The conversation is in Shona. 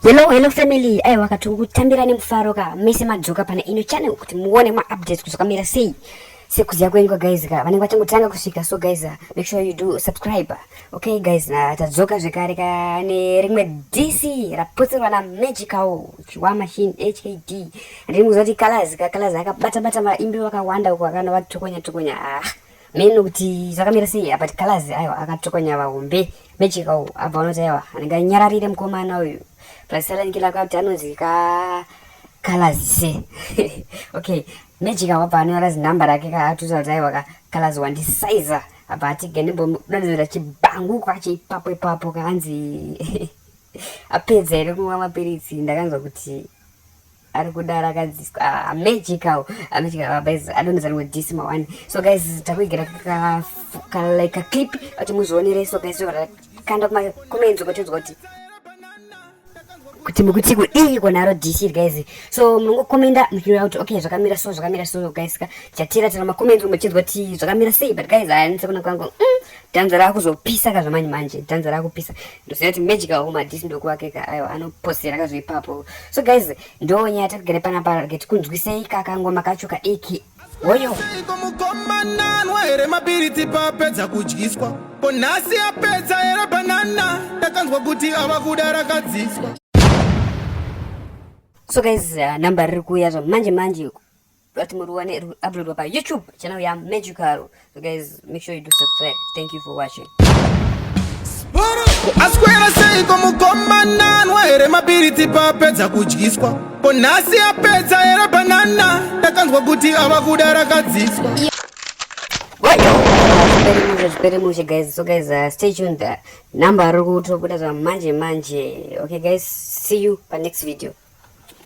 Hello, hello family. Ayo wakati kutambira nemufaro ka mese madzoka pana ino channel kuti muone ma updates kuti zvakamira sei. Sekuziya kwenyu guys ka vanenge vachangotanga kusvika so guys uh, make sure you do subscribe. Okay guys, na tadzoka zvekare ka ne rimwe DC rapotsirwa na Magical Chiwa Machine HKD. Rimwe zoti colors ka colors akabata bata maimbi wakawanda uko akana vatokonya tokonya. Ah. meno kuti zvakamira sei apa tikalazi aiwa akatokonya vahombe mejika uyu abva vanoti aiwa anenge anyararire mukomana uyu plasarangilakuya kuti anonzi ka kalazi se okay mejika wabva anonyora zinhamba rake ka atuza kuti aiwa ka kalazi wandisaiza abva ati gendimbomudanizira chibhangu kwacho ipapo ipapo kaanzi apedza here kumwa mapiritsi ndakanzwa kuti ari kuda rakadziswa ah, magical ah, magical ah, guys i don't know this ma one so guys takuigera ka ka like a clip ati muzvionere so guys zvara kanda kuma comments ukotinzwa kuti kuti mukuti kudii konaro dc guys so munongokomenda muchiona kuti okay zvakamira so zvakamira so guys ka chatira tira makomenti muchinzwa kuti zvakamira sei but guys haanise kuna kwangu mm, dhanza rakuzopisa ka zvamanje manje dhanza rakupisa ndoziva kuti magical home hadisi ndokuwake ka aiwa anoposera ka zveipapo so guys ndo nyaya tatigere pana parake tikunzwisei ka kangoma kacho ka eki woyo here mapiritsi paapedza kudyiswa ko nhasi apedza here banana ndakanzwa kuti ava kuda rakadziswa so guys uh, number riri kuuya zva manje manje But muruwane uploadwa pa YouTube channel ya Magical. So guys, make sure you do subscribe. Thank you for watching. aswera seiko mukomana anwaere mabiriti paapedza kudyiswa ko nhasi apedza here banana ndakanzwa kuti ava kuda rakadziswa zvipere mushe guys so guys uh, stay tuned uh, number ari kutobuda zvamanje manje okay guys see you pa next video